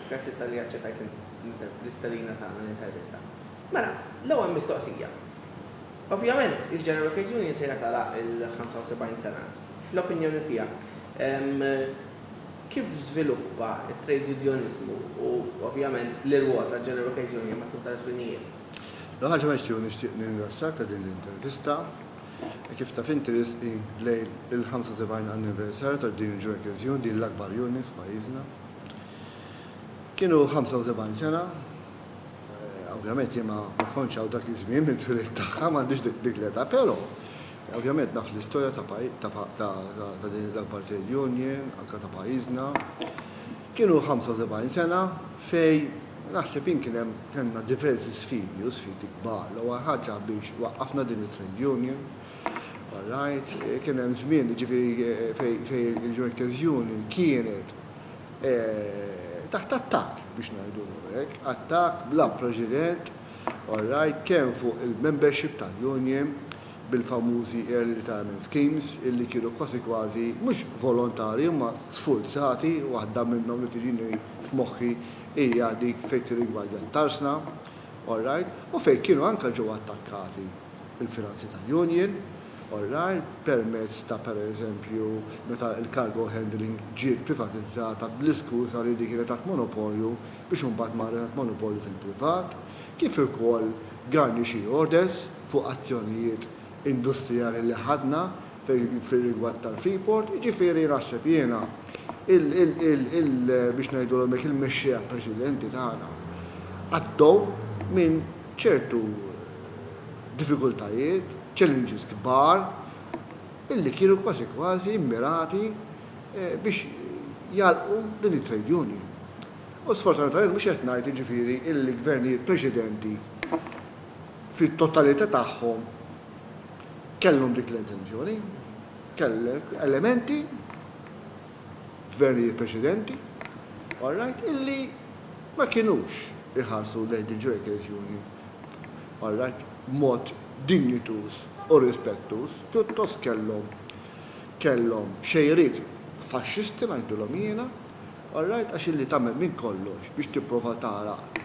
Grazzi talli aċċettajt l-istedina tagħna l-intervista. Mela, l-ewwel mistoqsija. Ovvjament, il-General Case Union se jagħtala il-75 sena. Fl-opinjoni tiegħek, ehm, kif żviluppa t-trade unionizmu u ovvjament l-irwol ta' General Case Union matul tal-żminijiet? L-ħaġa ma nixtieq nixtieq nirringrazzjak ta' din l-intervista. Kif taf inti risqi lejl il-75 anniversarju ta' din il-Ġu Ekkeżjun, din l-akbar Juni f'pajjiżna. Kienu 75 sena, ovvjament jien ma kontx hawn dak iż-żmien mill-twelid tagħha, m'għandix dik l-età, però ovvjament naf l-istorja ta' din l-akbar trade union anke ta' pajjiżna. Kienu 75 sena fejn naħseb jien kien hemm kellna diversi sfidi u sfidi kbar. L-ewwel ħaġa biex waqqafna din it-trade union, all right, kien hemm żmien jiġifieri fejn il-workers union kienet taħt attakk biex ngħidulhom hekk, attakk bla preċedent, all right, kemm fuq il-membership tal-union, bil-famużi early retirement schemes illi kienu kważi kważi mhux volontarji imma sfurzati, waħda minnhom li tiġini f'moħħi hija dik fejn tirrigwardja t-tarsna, all right, u fejn kienu anke ġew attakkati l-finanzi tal-union, all right, permezz ta' pereżempju meta l-cargo handling ġiet privatizzata bl-iskuża li din kienet taħt monopolju biex imbagħad marret għand monopolju fil-privat, kif ukoll garnishee orders fuq azzjonijiet industrijali li ħadna fir-rigward tal-Freeport, jiġifieri naħseb jiena il, biex ngħidulhom hekk, il-mexxejja preċedenti tagħna għaddew minn ċertu diffikultajiet, challenges kbar, illi kienu kważi kważi mmirati biex jagħlqu din it-trade union. U sfortunatament mhux qed ngħid jiġifieri illi gvernijiet preċedenti fit-totalità tagħhom kellhom dik l-intenzjoni. Kellek elementi f'gvernijiet preċedenti, all right, illi ma kinux iħarsu lejn din trade union, all right, b'mod dinjituż. u rispettuż, pjuttost kellhom kellhom xejriet faxxisti ngħidulhom jiena, all right, għax illi tagħmel minn kollox biex tipprova tagħlaq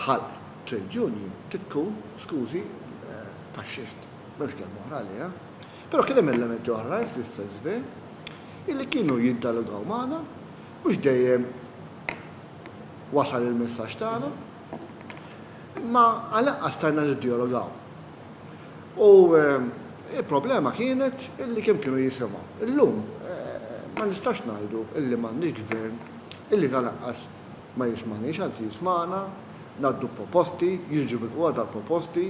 ħalq trade union trid tkun, skużi, faxxist. M'hemmx kelma oħra għaliha. Però kien hemm elementi oħrajn fl-SSV illi kienu jiddalogaw magħna, mhux dejjem wasal il-messaġġ tagħna, imma għal-anqas stajna niddjalogaw. U il-problema kienet illi kemm kienu jisimgħu. Illum ma nistax ngħidu illi m'għandniex gvern illi tal-anqas ma jismagħniex, anzi jismagħna, ngħaddu proposti, jiġu milqugħa dal-proposti,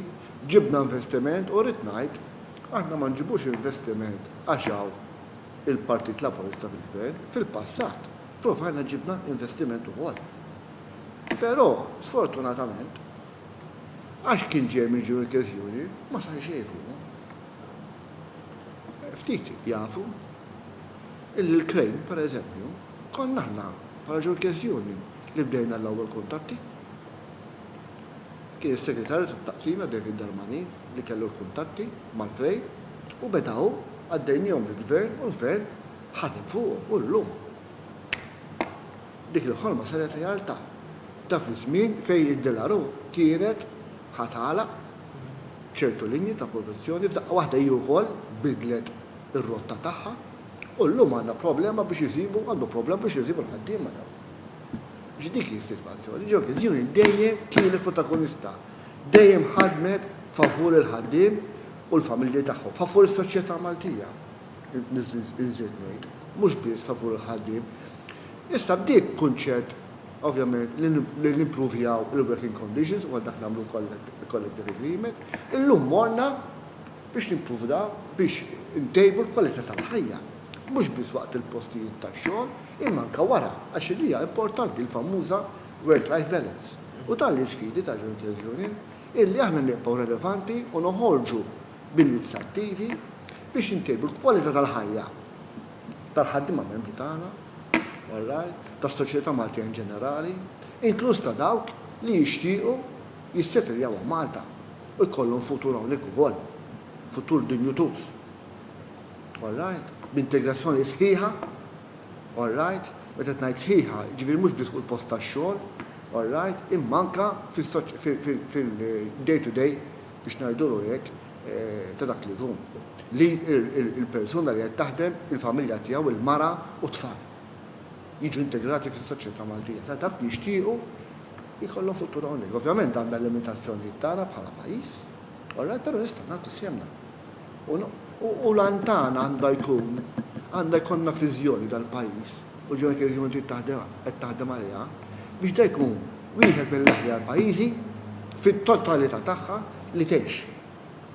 ġibna investiment u rrid ngħid, aħna ma nġibux investiment għax hawn il-Partit Laburista fil-gvern, fil-passat provajna ġibna investiment ukoll. Però, sfortunatament, Għax kien ġej minn ġnun il-Kelsjuri, ma sar xejn fuqhom. Ftit jafu illi l-klejm, pereżempju, konna aħna bħala ġnun il-Kelsjuri li bdejna l-ewwel kuntatti. Kien is-Segretarju tat-Taqsima David Darmani li kellu l-kuntatti mal-klejm u beda hu, għaddejniehom lill-Gvern u l-Gvern ħadem fuqhom u llum. Dik il-ħolma saret realtà. Ta' fi żmien fejn id-Delaró kienet ħa tagħlaq ċertu linji ta' produzzjoni, f'daqqa waħda hi wkoll bidlet ir-rotta tagħha u llum għandha problema biex iżibu, għandu problema biex iżibu l-ħaddiema dawn. Biex dik hi s-sitwazzjoni. Ġo Vizzjoni dejjem kienet protagonista. Dejjem ħadmet favur il-ħaddiem u l-familji tagħhom, favur is-soċjetà Maltija. nżid ngħid, mhux biss favur il-ħaddiem. Issa bdiet kunċett ovvjament li nimpruvjaw il-working conditions u dak nagħmlu collective agreement, illum morna biex nimpruvda biex intejbu l-kwalità tal-ħajja. Mhux biss waqt il-postijiet tax-xogħol, imma anke wara, għax hija importanti l-famuża work-life balance. U dan l-isfidi ta' Jointers Union illi aħna nibqgħu relevanti u noħorġu b'inizjattivi biex intejbu l-kwalità tal-ħajja tal-ħaddiema membri tagħna, wallaj, tas-soċjetà Maltija in ġenerali, inkluż ta' dawk li jixtiequ jissetiljaw hawn Malta u jkollhom futur hawnhekk ukoll, futur dinjutuż. Alright? B'integrazzjoni sħiħa, alright? Meta qed ngħid sħiħa, jiġifieri mhux biss fuq il-post tax-xogħol, alright? Imma anke fil-day to day biex ngħidulu hekk, ta' dak li jkun, li l-persuna li qed taħdem, il-familja tiegħu, il-mara u t-tfal jiġu integrati fis-soċjetà Maltija. Ta' dak li jixtiequ jkollhom futur hawnhekk. Ovvjament għandna l-limitazzjonijiet tagħna bħala pajjiż, alright, però nistgħu nagħtu sehemna. U l-għan tagħna għandha jkun, għandha jkollna viżjoni tal-pajjiż. u ġewnek irrid ikun trid taħdem qed taħdem għaliha, biex dan jkun wieħed mill-aħjar pajjiżi fit-totalità tagħha li tgħix.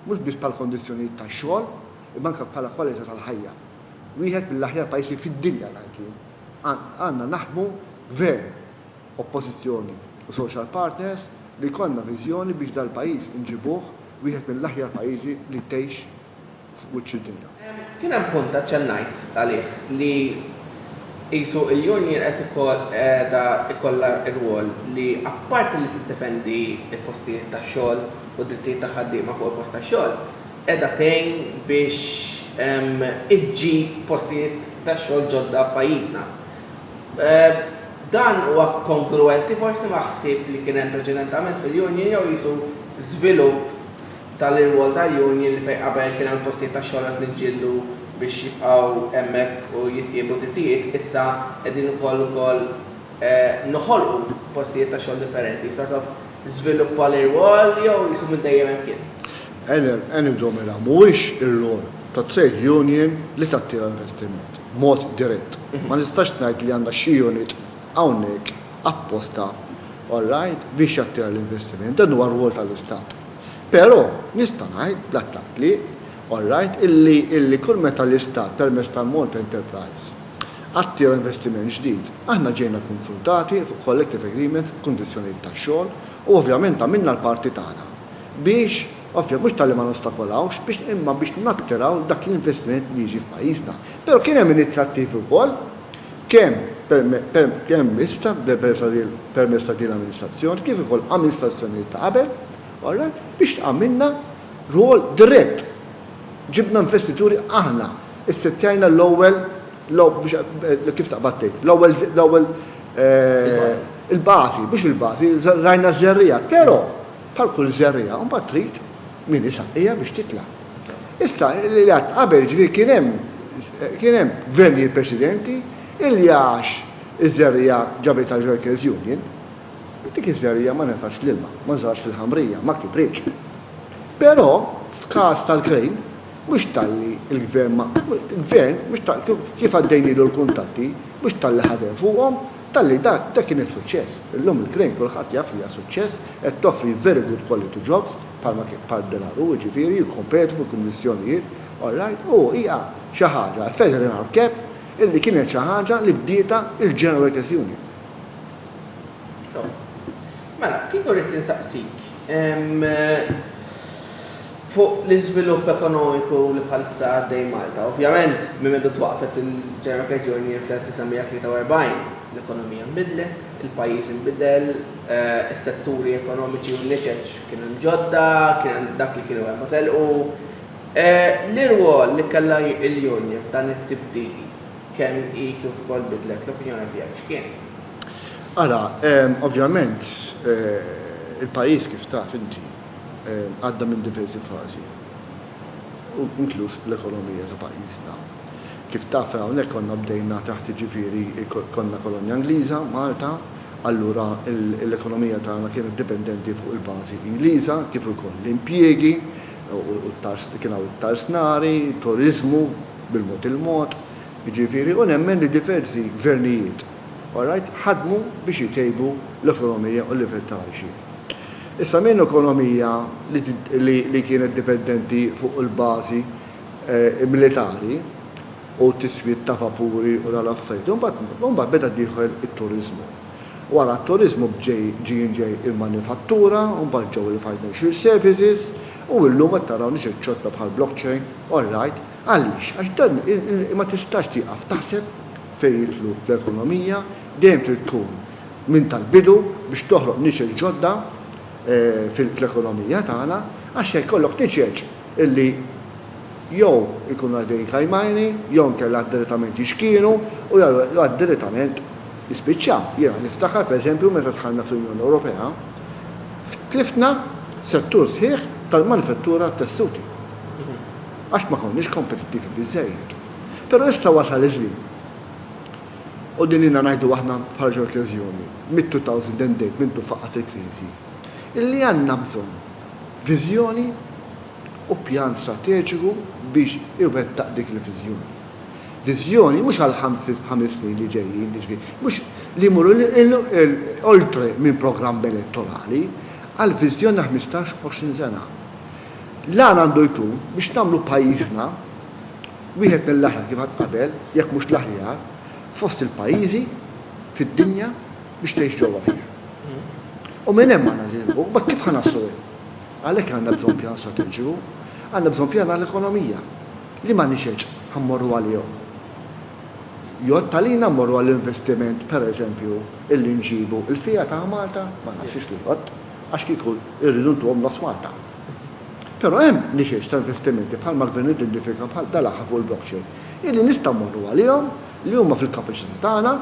Mhux biss bħal kondizzjonijiet tax-xogħol, imma anke bħala kwalità tal-ħajja. Wieħed mill-aħjar pajjiżi fid-dinja dan kien. Għandna naħdmu Gvern, Oppożizzjoni u Social Partners li jkollna viżjoni biex dal-pajjiż inġibuh wieħed mill-aħjar pajjiżi li tgħix f'wiċċ id-dinja. Kien hemm punt aċċennajt għalih li qisu l-union qed qiegħda jkollha rwol li apparti li tiddefendi l-postijiet tax-xogħol u d-drittijiet tal-ħaddiema fuq il-post tax-xogħol, qiegħda tgħin biex iġġib postijiet tax-xogħol ġodda f'pajjiżna. Dan huwa kongruwenti forsi ma' ħsieb li kien hemm preċedentament fil-union jew qisu żvilupp? Dan l-irwol ta' union li fejn qabel kien għall-postijiet tax-xogħol qed niġġieldu biex jibqgħu hemmhekk u jittiebu d-drittijiet, issa qegħdin ukoll ukoll noħolqu postijiet ta' xogħol differenti, sort of żviluppa l-irwol jew qisu minn dejjem hemm kien? Annie Domela, Mhuwiex ir-rwol ta' trade union li tattira investiment b'mod dirett. Ma nistax ngħid li għandha xi unit hawnhekk apposta, all right, biex jattira l-investiment. Dan huwa rwol tal-Istat. Però, nista' ngħid bl-aktar tliq, all right, illi kull meta l-Istat permezz tal-Malta Enterprise attira investiment ġdid, aħna ġejna konsultati fuq collective agreements b'kundizzjonijiet ta' xogħol u ovvjament għamilna l-parti tagħna biex, ovvja, mhux talli ma nostakolawx, biex imma biex nattiraw dak l-investiment li jiġi f'pajjiżna. Però kien hemm inizjattivi wkoll. kemm permezz ta' din l-amministrazzjoni kif ukoll amministrazzjonijiet ta' qabel, alright, biex tagħmilna rwol dirett. Ġibna investituri aħna, issettjajna l-ewwel, kif taqbad tgħid, l-ewwel, l-ewwel, il-bażi, mhux il-bażi, żerrajna ż-żerriegħa, però bħal kull żerriegħa mbagħad trid Min isaqqija biex titla'. Issa, li għedt qabel, jiġifieri kien hemm, kien hemm gvernijiet preċedenti illi għax iż-żerriegħa ġabitha l-workers' union, dik iż-żerriegħa ma ngħatatx l-ilma, ma żrax fil-ħamrija, ma kibritx. Però f'każ tal-krejn, mhux talli l-gvern ma, l-gvern, mhux talli, kif għaddejnielu l-kuntatti, mhux talli ħadem fuqhom, Talli dak dak kien is-suċċess. Illum il-Crane kulħadd jaf li hija suċċess, qed toffri very good quality jobs bħalma kien bħal Delaru, jiġifieri jikkompetu fil-kummissjonijiet, all right, u hija xi ħaġa, a feather in our cap, illi kienet xi ħaġa li bdietha il-General Workers Union. Sew. Mela, kieku rrid insaqsik, fuq l-iżvilupp ekonomiku li bħalissa għaddej Malta. Ovvjament, minn meta twaqqfet il-General Credit Union fl-1943, l-ekonomija nbidlet, il-pajjiż inbidel, is-setturi ekonomiċi u n-niċeċ kienu hemm ġodda, kien hemm dak li kienu hemm u telqu. L-irwol li kellha l-Union f'dan it-tibdil kemm hi kif ukoll bidlet, l-opinjoni tiegħek x'kien? Ara, ovvjament, il-pajjiż kif taf inti, għadda minn diversi fażi, u inkluż l-ekonomija ta' pajjiżna. Kif taf, hawnhekk konna bdejna taħt jiġifieri konna kolonja Ingliża, Malta, allura l-ekonomija tagħna kienet dipendenti fuq il-bażi Ingliża, kif ukoll l-impjiegi, kien hawn it-tarsnari, turiżmu bil-mod il-mod, jiġifieri, u nemmen li diversi gvernijiet, all right, ħadmu biex itejbu l-ekonomija u l-livell ta' għajxien. Issa minn ekonomija li kienet dipendenti fuq il-bażi militari u t-tiswid ta' vapuri u dawn l-affarijiet, imbagħad beda dieħel it-turiżmu. Wara t-turiżmu ġie ġej il-manifattura, imbagħad ġew il-financial services u illum qed taraw nies qed ċotta bħal blockchain, all right, għaliex? Għax dan ma tistax tieqaf taħseb fejn jidħlu l-ekonomija, dejjem trid tkun minn tal-bidu biex toħloq niċeċ ġodda fil-ekonomija tagħna għax se jkollok niċeċ illi jew ikunu għaddejjin kajmani jew inkella għad direttament jixkienu u jew għad direttament jispiċċaw. Jiena niftakar pereżempju meta dħalna fl-Unjoni Ewropea tliftna settur sħiħ tal-manifettura tat-tessuti għax ma konniex kompetittivi biżżejjed. Però issa wasal iż-żmien U din ilna ngħidu aħna f'ħarġa okkeżjoni, mit-2008 minn tu faqqgħet il-kriżi, illi għandna bżonn viżjoni u pjan strateġiku biex iwettaq dik il-viżjoni. Viżjoni mhux għall-ħames snin li ġejjin, jiġifieri mhux li jmur oltre minn programm elettorali, għal viżjoni ta' ħmistax, għoxrin sena. L-għan għandu jkun biex nagħmlu pajjiżna, wieħed mill-aħjar kif qatt qabel, jekk mhux l-aħjar, fost il-pajjiżi fid-dinja biex tgħix ġewwa fih. U minn hemm għandna nilħqu, imbagħad kif ħa naslu hemm? Għalhekk għandna bżonn pjan strateġiku, għandna bżonn pjan għall-ekonomija. Liema nixeġ ħa mmorru għalihom? Jgħodd għalina mmorru għall-investiment, pereżempju, illi nġibu l-fiha ta' Malta? Ma naħsibx li jgħodd, għax kieku rridu ntuhom nofs Malta. Però hemm nixex ta' investimenti bħal ma Gvern identifika bħal dal-aħħar fuq il-blockchain, illi nistgħu mmorru għalihom, li huma fil-kapaċità tagħna,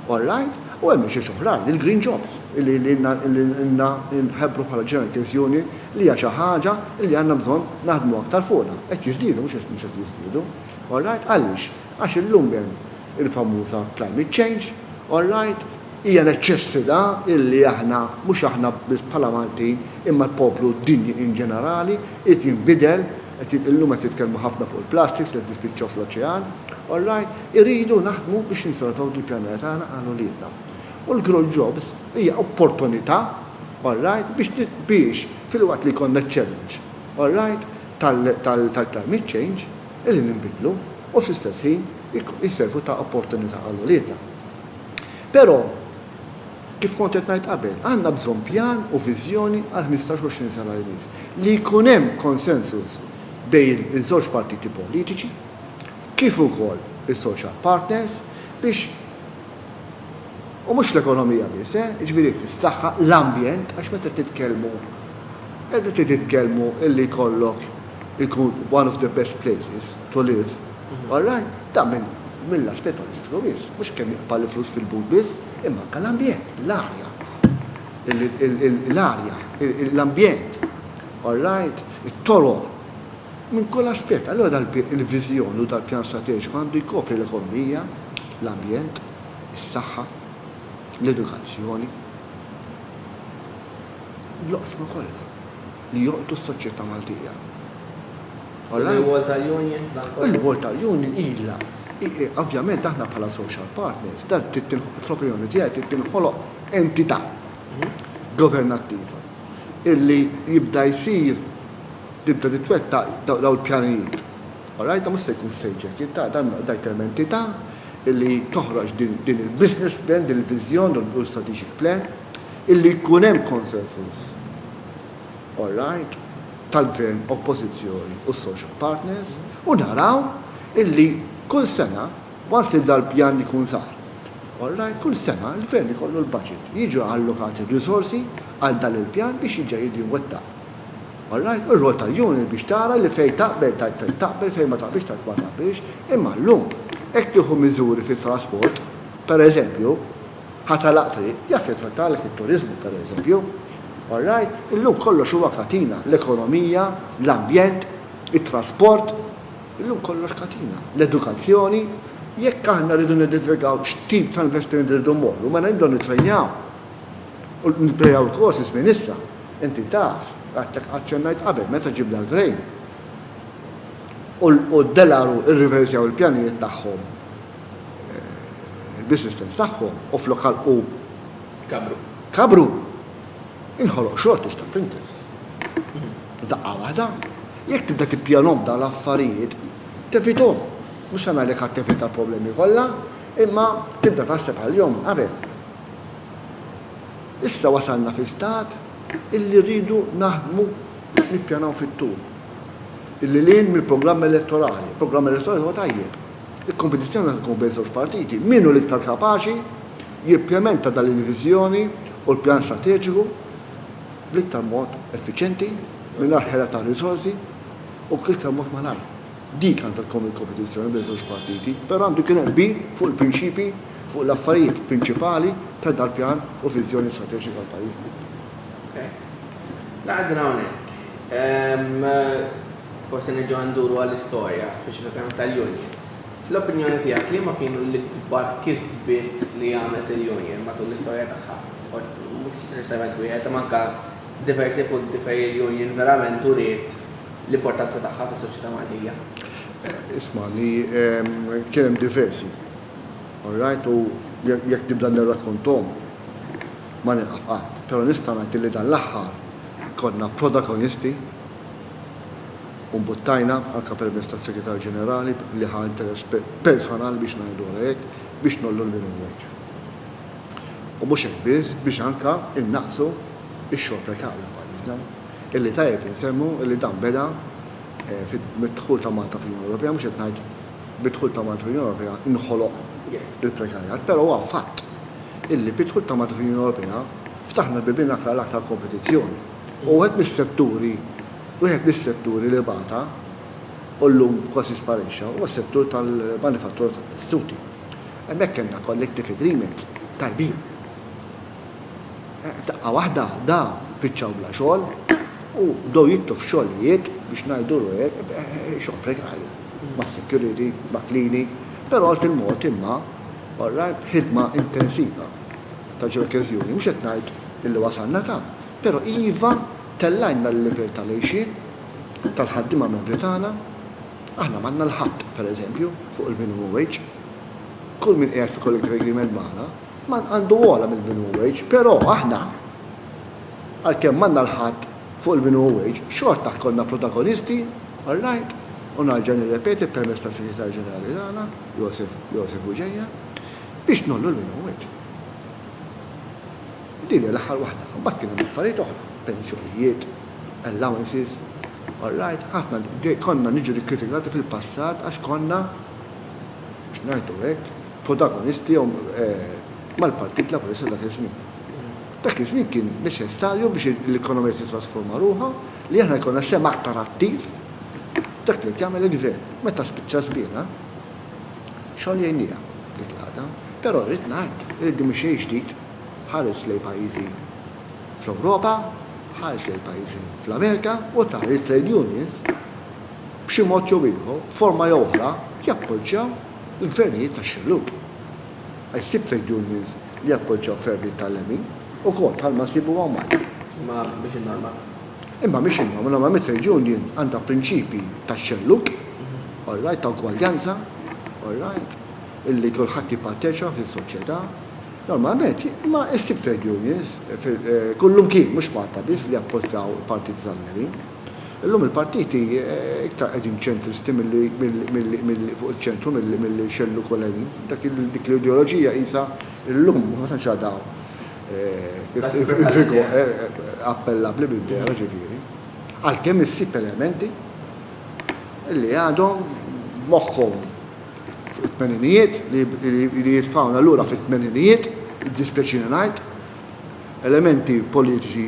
all right, u hemm nixex oħrajn, il-green jobs, illi ilna nħebbru bħala ġenerali teżjoni li hija xi ħaġa illi għandna bżonn naħdmu aktar fuqha. Qed jiżdiedu mhux qed jiżdiedu, all right. Għaliex? Għax illum hemm il-famuża climate change, all right. Hija neċċessità illi aħna, mhux aħna biss bħala Maltin, imma l-poplu dinji in ġenerali, irid jinbidel, qed illum qed jitkellmu ħafna fuq il-plastiks li qed jispiċċaw fl-oċean, all right, irridu naħdmu biex ninsalvaw dil-pjaneta tagħna għal uliedna. U l-Grow Jobs hija opportunità, all right, biex biex filwaqt li jkollna ċ-challenge, all right, tal tal-climate change, illi ninbidlu u fl-istess ħin jservu ta' opportunità għal uliedna. Però, kif kont qed ngħid qabel, għandna bżonn pjan u viżjoni għal ħmistax, għoxrin sena li jmiss. Li jkun hemm konsensus bejn iż-żewġ partiti politiċi, kif ukoll is-social partners, biex, u mhux fl-ekonomija biss, eh, jiġifieri fis-saħħa, l-ambjent, għax meta titkellmu, meta titkellmu illi jkollok ikun one of the best places to live, All right, dan mill-lat spettolistiku biss, mhux kemm jaqbad il-flus fil-but biss, imma anke l-ambjent, l-arja, l-arja, l-ambjent, all right, it-toroq, minn kull aspett. Allura dal-viżjoni u dal-pjan strateġiku għandu jkopri l-ekonomija, l-ambjent, is-saħħa, l-edukazzjoni, l-oqsma kollha. li joqtlu s-soċjetà Maltija. U l-irwol tal-union f'dan kollu? Il-rwol tal-union ilha, ovvjament aħna bħala social partners, dan fl-opinjoni tiegħi trid tinħoloq entità governattiva illi jibda jsir tibda titwettaq dawn il-pjanijiet. All right, dan mhux se jkun state jacket, dan dak hemm entità illi toħroġ din il-business plan, din il-viżjoni u l-strategic plan illi jkun hemm consensus. Alright, tal-Gvern, Oppożizzjoni u s-social partners u naraw illi kull sena, waqt li dal-pjan ikun sar, alright, kull sena l-Gvern ikollu l-budget, jiġu allokati r-riżorsi għal dan il-pjan biex jiġa jiġi mwettaq. Alright, u r-rwol tal-Union biex tara li fejn taqbel tgħid taqbel, fejn ma taqbilx tgħid ma taqbilx, imma llum hekk tieħu miżuri fit-trasport, pereżempju, Ħa tagħlaq triq, jaffettwa għalhekk it-turiżmu, pereżempju. All right? Illum kollox huwa katina, l-ekonomija, l-ambjent, it-trasport, illum kollox katina, l-edukazzjoni. Jekk aħna rridu nidentifikaw x'tip ta' investiment irridu mmorru, mela nibdew nittrejnaw u nipprejaw il-courses minn issa. Inti taf, għadtek aċċennajt qabel meta ġibna l-grain u d-delaru rriversjaw il-pjanijiet tagħhom il-business plans tagħhom u flok ħalqu kabru. Kabru. Inħoloq shortage ta' printers. Daqqa waħda. Jekk tibda tippjanom dan l-affarijiet, tevitom. Mhux se ngħidlek ħadd tevita problemi kollha, imma tibda taħseb għal-jom qabel. Issa wasalna fi stat illi rridu naħdmu nippjanaw fit-tul. Illi lin mill-programm elettorali. Programm elettorali huwa tajjeb. Il-kompetizzjoni għandha tkun bejn żewġ partiti, min hu l-iktar kapaċi jimplementa dan il-viżjoni u l-pjan strateġiku bl-iktar mod effiċjenti, mingħajr ħela ta' riżorsi u bl-iktar mod malajr. Dik għandha tkun il-kompetizzjoni bejn żewġ partiti, però għandu jkun hemm qbil fuq il-prinċipji, fuq l-affarijiet prinċipali ta' dal-pjan u viżjoni strateġika għal pajjiżna. Okej. Ngħaqdilha hawnhekk. Forsi nerġgħu nduru għall-istorja, speċifikament tal-Union. Fl-opinjoni tiegħek liema kienu l-ikbar kisbiet li għamlet il-Union matul l-istorja tagħha? Mhux neċessarjament wieħed, imma anke diversi punti fejn il-Union verament uriet l-importanza tagħha fis-soċjetà Maltija. Ismagħni, kien hemm diversi. All right, u jekk nibda nirrakkonthom ma nieqaf qatt. Però nista' ngħid li dan l-aħħar konna protagonisti u mbuttajna anke permezz tas-Segretarju Ġenerali li ħa interess personali biex ngħiduha hekk biex ngħollu l-minimum wage. U mhux hekk biss, biex anke innaqsu x-xogħol prekarju f'pajjiżna, illi tajjeb insemmu illi dan beda mid-dħul ta' Malta fl-Unjoni Ewropea, mhux qed ngħid bid-dħul ta' Malta fl-Unjoni Ewropea nħoloq il-prekarjat, però huwa fatt illi bid-dħul ta' Malta fl-Unjoni Ewropea ftaħna l-bibien aktar għal aktar kompetizzjoni. Huwa wieħed mis-setturi wieħed mis-setturi li bata u llum kważi sparixxa huwa s-settur tal-manifattura tat-testuti. Hemmhekk kellna collective agreements tajbin. F'daqqa waħda da piċċaw bla xogħol u bdew jitlu f'xogħlijiet biex ngħidulu hekk xogħol prekarju mas-security, ma' klini, però għal fil-mod imma all right ħidma intensiva ta' ġeokeżjoni mhux qed ngħid illi wasalna ta' Però iva, tellgħilna l-livell tal-għixien tal-ħaddiema membri tagħna. Aħna m'għandna 'l ħadd, per eżempju, fuq il-minimum wage. Kull min qiegħed fi collective agreement magħna ma għandu ogħla mill-minimum wage, però aħna, għalkemm m'għandna 'l ħadd fuq il-minimum wage, xorta konna protagonisti, all right, u narġa' nirrepeti permezz tas-Segretarju Ġenerali tagħna, Joseph Bugeja, biex ngħollu l-minimum wage. Din hija l-aħħar waħda. Imbagħad kien hemm affarijiet oħra, pensjonijiet, allowances, all right, ħafna konna niġu rikkritikati fil-passat għax konna, biex ngħidu hekk, protagonisti jew mal-Partit Laburista dak iż-żmien. Dak iż-żmien kien neċessarju biex l-ekonomija tittrasforma ruħha li aħna jkollna sehem aktar attiv f'dak li qed jagħmel il-Gvern. Meta spiċċa żmienha, xogħol jgħinniha dik l-għada. Però rrid ngħid li din mhi xejn ġdid. Ħares lejn pajjiżi fl-Ewropa, ħares lejn pajjiżi fl-Amerika u tara li t-trade unions b'xi mod jew ieħor, b'forma jew oħra, jappoġġjaw il-gvernijiet tax-xellug. Għax ssib trade unions li jappoġġjaw gvernijiet tal-lemin ukoll bħalma nsibu hawn Malta. Imma mhix in-norma. Imma mhix in-norma. Normalment trade union għandha prinċipji tax-xellug, all right, ta' ugwaljanza, all right, illi kulħadd jipparteċipa fis-soċjetà, Normalment, imma issib trade unions kullimkien, mhux Malta biss, li jappoġġaw il-partiti tal-lemin. Illum il-partiti iktar qegħdin ċentristi milli fuq iċ-ċentru milli xellu wkoll lemin. Dik l-ideoloġija qisha llum ma tantx għadha appellabbli bil-vera, ġifieri. Għalkemm issib elementi li għadhom moħħhom. It-tmeninijiet, li jitfgħuna lura fit-tmeninijiet, jiddispjaċini ngħid, elementi politiċi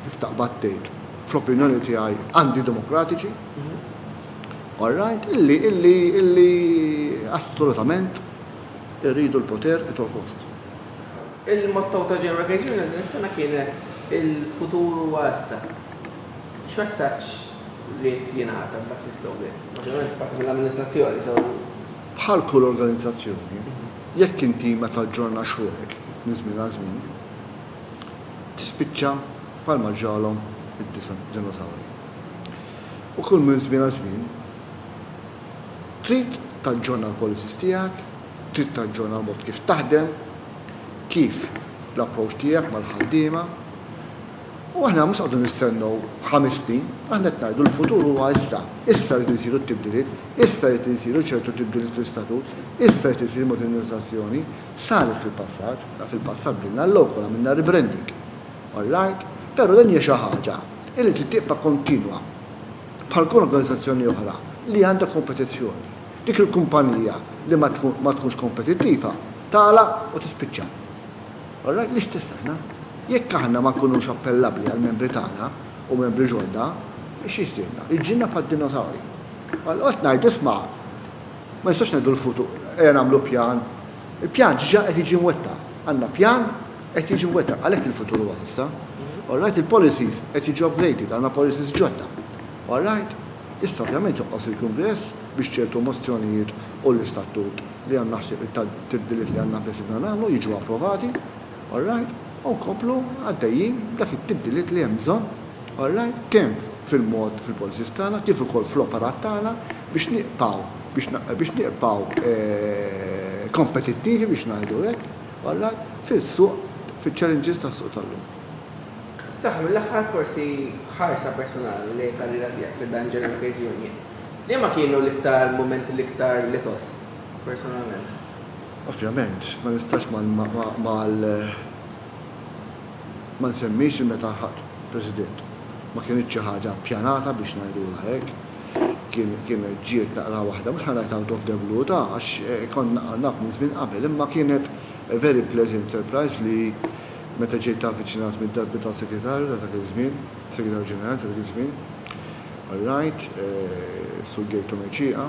kif taqbad tgħid, fl-opinjoni tiegħi antidemokratiċi, all right, illi assolutament irridu l-poter at all cost. Il-motto ta' General Gates Union din is-sena kienet Il-futur huwa issa. X'messaġġ ried jingħata b'dak tistgħu bih. Ovvjament parti mill-amministrazzjoni, so. Bħal kull organizzazzjoni, jekk inti ma taġġornax ruħek minn żmien għal żmien, tispiċċa bħalma ġralhom id-dinosawri. U kull minn żmien għal żmien, trid taġġorna l-policies tiegħek, trid taġġorna l-mod kif taħdem, kif l-approċċ tiegħek mal-ħaddiema, U aħna mhux qogħdu nistennew ħames snin, aħna qed ngħidu l-futur huwa issa. Issa rridu jsiru t-tibdiliet, issa rrid isiru ċertu tibdiliet fl-istatut, issa rrid isir modernizzazzjoni. Saret fil-passat, fil-passat bilna l-local, għamilna rebranding. All right? Però din hija xi ħaġa li trid tibqa' kontinwa bħal kull organizzazzjoni oħra li għandha kompetizzjoni. Dik il-kumpanija li ma tkunx kompetittiva tagħlaq u tispiċċa. Alright, l-istess aħna. Jekk aħna ma nkunux appellabbli għall-membri tagħna u membri ġodda, x'jiġrilna? Jiġrilna bħad-dinosawri. Allura qed ngħidu, isma', ma nistax ngħidu l-futur, ejja nagħmlu pjan. Il-pjan diġà qed jiġi mwettaq. Għandna pjan qed jiġi mwettaq, għalhekk il-futur huwa issa. Alright, il-policies qed jiġu upgraded, għandna policies ġodda. Alright? Issa ovvjament joqgħos il-Kungress biex ċertu mozzjonijiet u l-istatut li għandna ħsieb it-tibdiliet li għandna beżidna nagħmlu jiġu approvati, alright, u nkomplu għaddejjin b'dak it-tibdiliet li hemm bżonn, alright, kemm fil-mod fil-policies tagħna kif ukoll fl-operat tagħna biex nibqgħu biex nibqgħu kompetittivi biex ngħidu hekk, alright, fil-suq fiċ-challenges tas-suq tal-lum. Fl-aħħar mill-aħħar forsi ħarsa personali lejn il-karriera tiegħek fi dan il-General Affairs Union. Liema kienu l-iktar mumenti l-iktar li tgħożż personalment? Ovvjament, ma nistax ma nsemmix li meta lħaqt President. Ma kinitx xi ħaġa ppjanata biex ngħidulha hekk. Kienet ġiet naqra waħda, mhux ħa ngħid out of the blue, ta' għax kont naqra naf minn żmien qabel, imma kienet a very pleasant surprise li meta ġejt avviċinat mid-darbità Segretarju ta' dak iż-żmien, Segretarju Ġenerali ta' dak iż-żmien, Alright, Sur Gator Mercieqa,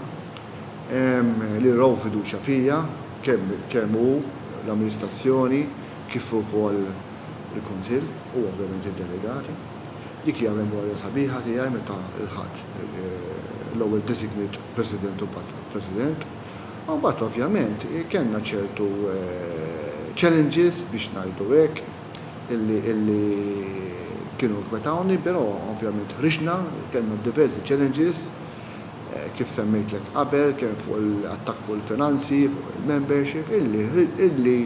li raw fiduċja fija, kemm hu, l-amministrazzjoni, kif ukoll il-Kunsill u ovvjament id-delegati. Dik hija memorja sabiħa tiegħi meta lħaqt l-ewwel designate President u mbagħad President. U mbagħad ovvjament kellna ċertu challenges biex ngħidu hekk. illi kienu jinkwetawni, pero ovvjament ħriġna, kellna diversi challenges kif semmejtlek qabel, kemm fuq il-attakk fuq il-finanzi, fuq il-membership, illi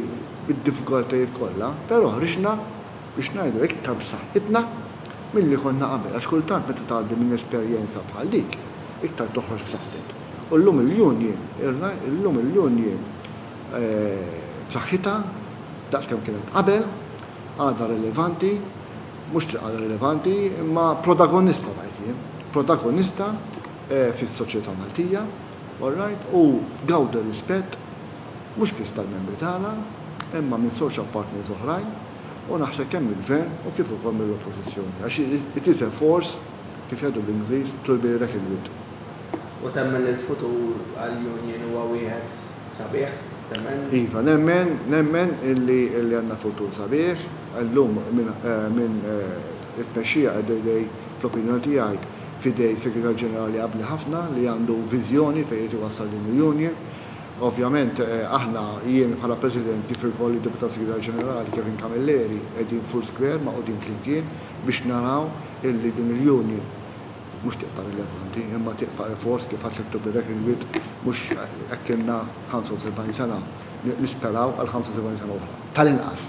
bid-diffikultajiet kollha, pero ħriġna biex ngħidu iktar b'saħħitna milli konna qabel, għax kultant meta tgħaddi minn esperjenza bħal dik, iktar toħroġ b'saħħtek. U llum il-union, illum il-union, b'saħħitha daqs kemm kienet qabel, għadha rilevanti, mhux li għadha rilevanti, imma protagonista ngħid jien, protagonista fis-soċjetà Maltija, alright, u tgawdi rispett mhux biss tal-membri tagħna, imma minn social partners oħrajn, u naħseb kemm mill-Gvern u kif ukoll mill-Oppożizzjoni, għax it is a force, kif jgħidu bl-Ingliż, to be reckoned with. U temmen li l-futur għall-Union huwa wieħed Sabiħ, temmen? Iva, nemmen, nemmen illi għandna futur sabiħ. Illum minn it-tmexxija qiegħda idej, fl-opinjoni tiegħi, f'idej Segretarju Ġenerali abbli ħafna li għandu viżjoni fejn irid iwassal din il-union. Ovvjament aħna, jien bħala President kif ukoll id-Deputat Segretarju Ġenerali Kevin Camilleri qegħdin f'Hurr Square magħqudin flimkien biex naraw illi din il-union, mhux tibqa' rilevanti imma tibqa' effort li faċli ttubbi dak il-wied mhux hekk ilna 75 sena, nisperaw għal 75 sena oħra, tal-inqas.